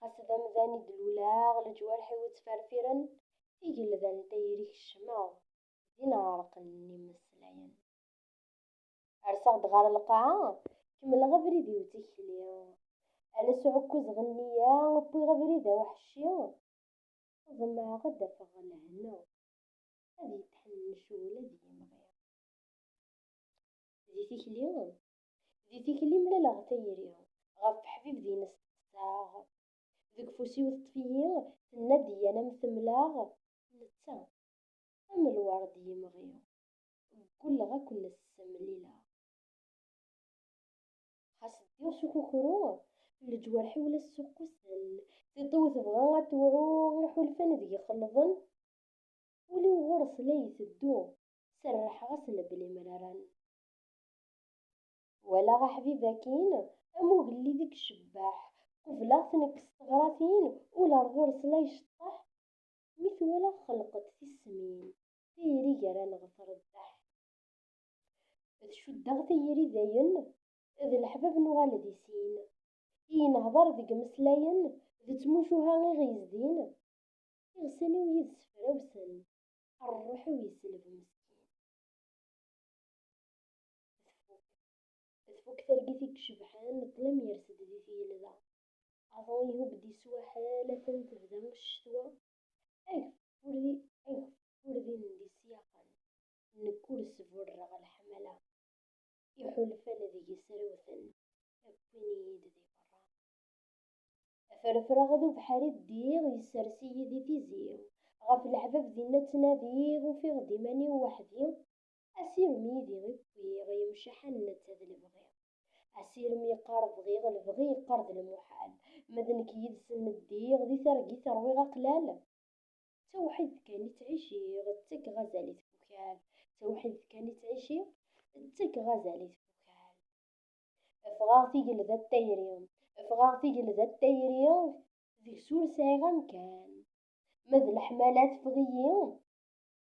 ɣas d amdan i d-luleɣ, leǧwarḥ-iw ttferfiren, igelda n tayri kecmeɣ, din ɛerqen imeslayen. Rseɣ-d ɣer lqaɛa, kemmleɣ abrid-iw d tikli, ales uɛekkaz ɣer nniya, wwiɣ abrid aweḥci, ḍemɛeɣ ad d-afeɣ lehna, ad yetḥennec wul ad yimɣi. Di tikli, Di tikli mlaleɣ tayri. Ɣef ḥbib din steqsaɣ. Deg ufus-iw teṭṭef-iyi. Tenna-d yyan am temlaɣ. Netta am lwerd yemɣi. Ggulleɣ a ken-ssemlileɣ. Xas ddiɣ s ukukru. Leǧwarḥ-iw la ssuqquten. Tiṭ-iw tebɣa ad tewɛu. Iḥulfan deg-i xelḍen. Ul-iw ɣur-s la iteddu. Serrḥeɣ-asen belli mraren. Walaɣ aḥbib akin, am ugellid i icebbeḥ, qubleɣ-t nekk s teɣratin, ul ar ɣur-s la iceṭṭeḥ, mi t-walaɣ xelqeḍ tismin, tayri gar-aneɣ tṛebbeḥ. D cuddeɣ tayri dayen, d leḥbab nuɣal di sin, i inehder deg imeslayen, d tmucuha i ɣ-yezdin, iɣsan-iw yid-s frawsen, rruḥ-iw yesleb meskin. tfuk tfuk targit i icebḥen ṭṭlam yers-d di tgelda aḍu ihub-d iswaḥel atan tebda ccetwa ageffur di ageffur di ndisyaxen nekk ur sburreɣ leḥmala iḥulfan deg-s rewten akkin-iyi-d di berra aferfreɣ d ubeḥri ddiɣ yessers-iyi di tizi ɣef leḥbab dinna ttnadiɣ ufiɣ-d iman-iw weḥdi Asirem yid-i i wwiɣ, yemceḥ am netta d lebɣi. Asirem yeqqar bɣiɣ, lebɣi yeqqar d lmuḥal. Ma d nekk yid-sen ddiɣ, di targit rwiɣ aqlal. D tawḥidt kan i ttɛiciɣ, ttakeɣ azal i tfukal. D tawḥidt kan i ttɛiciɣ, ttakeɣ azal i tfukal. Ffɣeɣ tigelda d tayri, ffɣeɣ tigelda d tayri, deg-s ur sɛiɣ amkan. Ma d leḥmala teffeɣ-iyi.